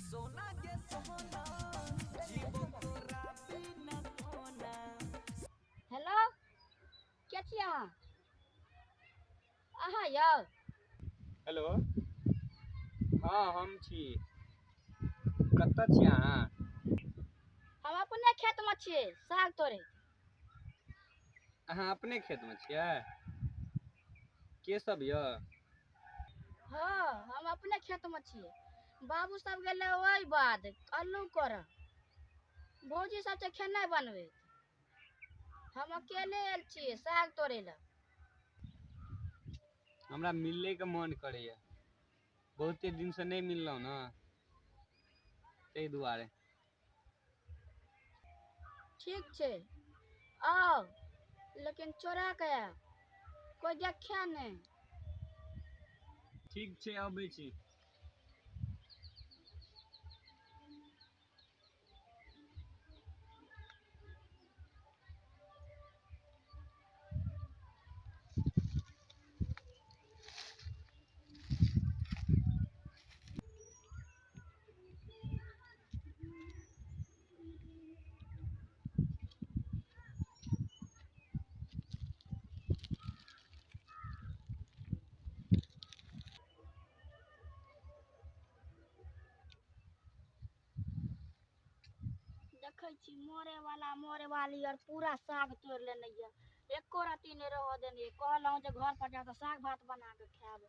सोना के सोना जीवो तोरा बिना सोना हेलो के छी अहाँ अहाँ यौ हेलो हँ हम छी कतऽ छी अहाँ हम अपने खेतमे छियै साग तोड़ै अहाँ अपने खेतमे छियै के सब यऽ हँ हम अपने खेत मे छियै बाबू सब गेलै ओहि बाद अल्लू करऽ भौजी सब छै खेनाइ बनबैत हम अकेले आयल छियै साग तोड़ै लए हमरा मिलैके मोन करैए बहुते दिनसँ नहि मिललहुँ ने ताहि दुआरे ठीक छै आउ लेकिन चोरा के आयब कोई देखे नहि ठीक छै अबै छी देखै छी मरे वाला मरे वाली आर पूरा साग तोड़ लेने ये एको रत्ती नहि रहऽ देने ये कहलहुँ जे घर पर जाकऽ साग भात बना कऽ खायब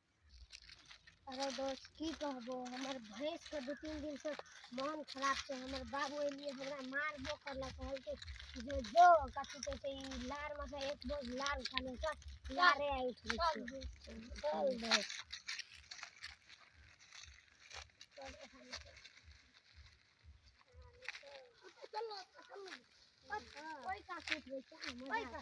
अरे दोस्त की कहबो हमर भैंस के दू तीन दिन से मन खराब छै हमर बाबू एलिए हमरा मारबो करलक कहलकै जे जो कथी कहै छै ई लार में से एक बोझ लार उठा ले सब लारे आइ उठबै चल छै चल दोस्त ओइ काकूत होइ छै मजा